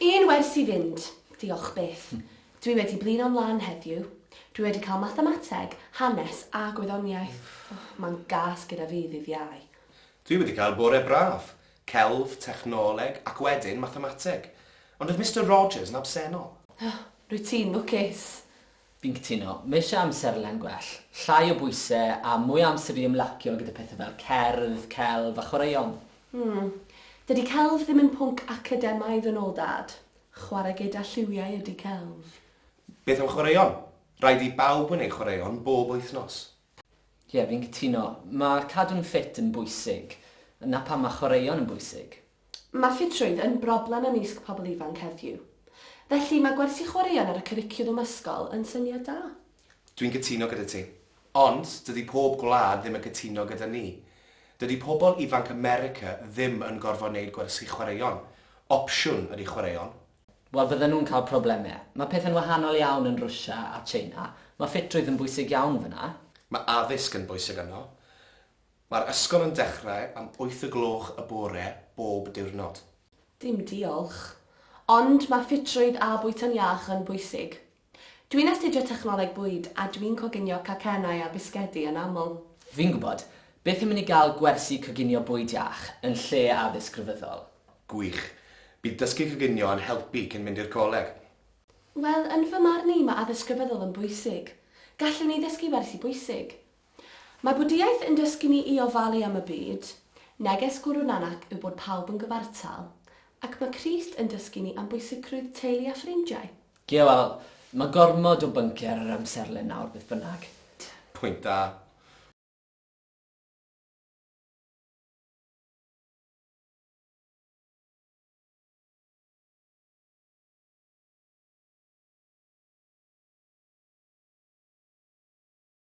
Un wers i fynd, diolch byth. Dwi wedi blino'n lân heddiw. Dwi wedi cael mathemateg, hanes a gwyddoniaeth. Mae'n gas gyda fi ddydd Iau. Dwi wedi cael bore braf. Celf, technoleg, ac wedyn mathemateg. Ond oedd Mister Rogers yn absennol. O, rwyt ti'n lwcus. Fi'n cytuno. Mae eisiau amserlen gwell, llai o bwysau a mwy o amser i ymlacio gyda pethau fel cerdd, celf a chwaraeon. Mm. Dydy celf ddim yn pwnc academaidd yn ôl Dad. Chwarae gyda lliwiau ydy celf. Beth am chwaraeon? Rhaid i bawb wneud chwaraeon bob wythnos. Ie, fi'n cytuno. Mae cadw'n ffit yn bwysig. 'na pam mae chwaraeon yn bwysig. Mae ffitrwydd yn broblem ymysg pobl ifanc heddiw. Felly, mae gwersi chwaraeon ar y cwricwlwm ysgol yn syniad da. Dwi'n cytuno gyda ti. Ond, dydy pob gwlad ddim yn cytuno gyda ni. Dydy pobl ifanc America ddim yn gorfod neud gwersi chwaraeon. Opsiwn ydy chwaraeon. Wel, fydden nhw'n cael problemau. Mae pethau'n wahanol iawn yn Rwsia a Tsieina. Mae ffitrwydd yn bwysig iawn fan'na. Mae addysg yn bwysig yno. Mae'r ysgol yn dechrau am wyth o gloch y bore bob diwrnod. Dim diolch. Ond mae ffitrwydd a bwyta'n iach yn bwysig. Dwi'n astudio technoleg bwyd a dwi'n coginio cacennau a bisgedi yn aml. Fi'n gwybod. Byth yn mynd i gael gwersi coginio bwyd iach yn lle addysg rhyfeddol. Gwych. Bydd dysgu coginio yn helpu cyn mynd i'r coleg. Wel, yn fy marn i, mae addysg rhyfeddol yn bwysig. Gallwn ni ddysgu wersi bwysig. Mae Bwdhiaeth yn dysgu ni i ofalu am y byd, neges Gwrw Nanak yw bod pawb yn gyfartal, ac mae Crist yn dysgu ni am bwysigrwydd teulu a ffrindiau. Ie, wel, mae gormod o bynciau ar yr amserlen nawr, beth bynnag. Pwynt da.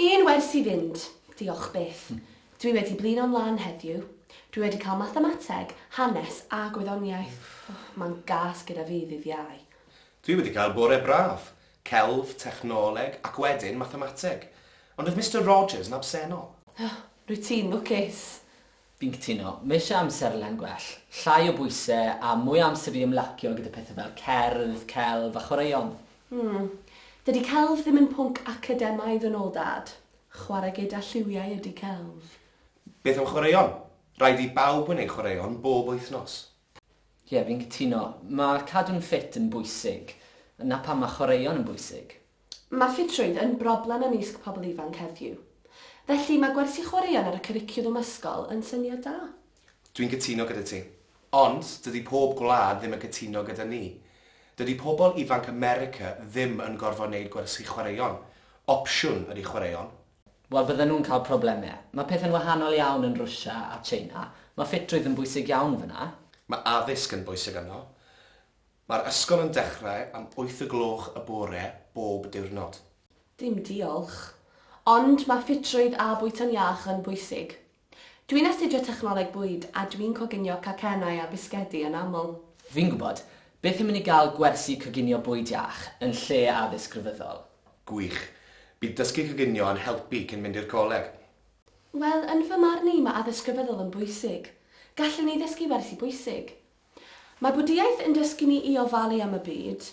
Un wers i fynd, diolch byth. Dwi wedi blino'n lan heddiw. Dwi wedi cael mathemateg, hanes a gwyddoniaeth. Mae'n gas gyda fi ddydd Iau. Dwi wedi cael bore braf. Celf, technoleg ac wedyn mathemateg. Ond oedd Mister Rogers yn absennol. Rwyt ti'n lwcus. Fi'n cytuno. Mae eisiau amserlen gwell, llai o bwysau a mwy o amser i ymlacio gyda pethau fel cerdd, celf a chwaraeon. Mm. Dydy celf ddim yn pwnc academaidd yn ôl Dad. Chwarae gyda lliwiau ydy celf. Beth am chwaraeon? Rhaid i bawb wneud chwaraeon bob wythnos. Ie, fi'n cytuno. Mae cadw'n ffit yn bwysig. 'Na pam mae chwaraeon yn bwysig. Mae ffitrwydd yn broblem ymysg pobl ifanc heddiw. Felly, mae gwersi chwaraeon ar y cwricwlwm ysgol yn syniad da. Dwi'n cytuno gyda ti. Ond, dydy pob gwlad ddim yn cytuno gyda ni. Dydy pobl ifanc America ddim yn gorfod neud gwersi chwaraeon. Opsiwn ydy chwaraeon. Wel, fydden nhw'n cael problemau. Mae pethau'n wahanol iawn yn Rwsia a China. Mae ffitrwydd yn bwysig iawn fan'na. Mae addysg yn bwysig yno. Mae'r ysgol yn dechrau am wyth y gloch y bore bob diwrnod. Dim diolch. Ond mae ffitrwydd a bwyta'n iach yn bwysig. Dwi'n astudio technoleg bwyd a dwi'n coginio cacennau a bisgedi yn aml. Fi'n gwybod. Beth am i ni gael gwersi coginio bwyd iach yn lle addysg grefyddol? Gwych. Bydd dysgu coginio yn helpu cyn mynd i'r coleg. Wel, yn fy marn i, mae addysg grefyddol yn bwysig. Gallwn ni ddysgu wersi bwysig. Mae Bwdhiaeth yn dysgu ni i ofalu am y byd,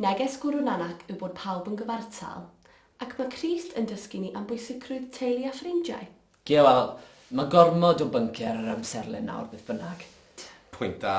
neges Guru Nanak yw bod pawb yn gyfartal, ac mae Crist yn dysgu ni am bwysigrwydd teulu a ffrindiau. Ie, wel, mae gormod o bynciau ar yr amserlen nawr, beth bynnag. Pwynt da.